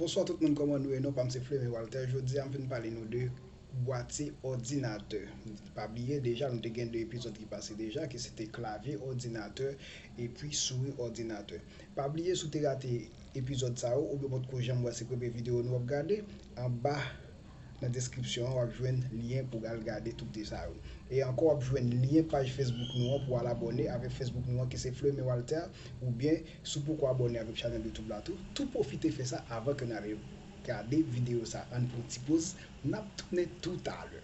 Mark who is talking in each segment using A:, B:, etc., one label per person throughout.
A: Bonswa tout moun kòman nou ye non pam se Fleming Walter jodia m vin pale nou de bwati òdinatè pa bliye deja nou te gen 2 epizòd ki pase deja ki se te klavye òdinatè epi souri òdinatè pa bliye si w te rate epizòd sa yo oubyen w potko janm wè se premye videyo nou ap gade anba nan deskripsyon an wap jwenn lyen pou al gade toute sa yo. E ankò wap jwenn lyen paj Facebook nou an pou al abòne avèk Facebook nou an ki se Fleume Walter oubyen si w poko abòne avèk chanèl YouTube la tou, tou pwofite fè sa avan ke n ale gade videyo sa ann pran ti poz nap tounen toutalè.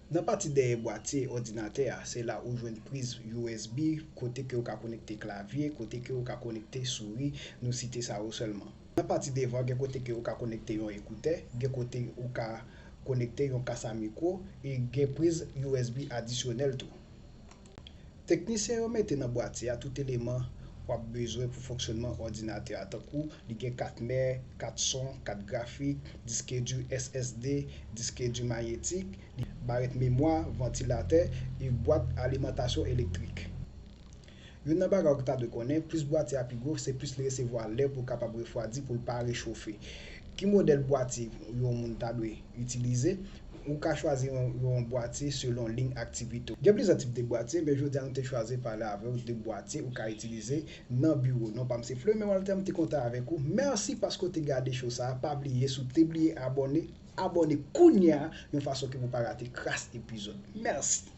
A: Nan pati dèyè bwatye òdinatè a se la ou jwenn priz usb kote ke ou ka konekte klavye, kote ke ou ka konekte souri, nou site sa yo sèlman. Nan pati devan gen kote ke ou ka konekte yon ekoutè, gen kote ou ka konekte yon kas a mikwo e gen priz usb adisyonèl tou. Teknisyen yo mete nan bwati a tout eleman w ap bezwen pou fonksyonman òdinatè a tankou li gen kat mè, kat son, kat grafik, diske di SSD, diske di manyetik, li gen barèt memwa, vantilatè e bwat alimantasyon elektrik. Youn nan bagay ou ta dwe konnen, plis bwati a pi gwo se plis li resevwa lè pou l kapab refwadi pou l pa rechofe. Ki modèl bwati yon moun ta dwe itilize? Ou ka chwazi yon bwatye selon liy aktivite w. Gen plizyè tip de bwatye, men jodi a nou te chwazi pale avè w de bwatye ou ka itilize nan biwo. Non pa m se Fleurmain Walter, m te kontan avèk ou. Mèsi paske w te gade show sa a. Pa bliye si w te bliye abòne, abòne kounye a yon fason ke pou w pa rate kras epizòd. Mèsi!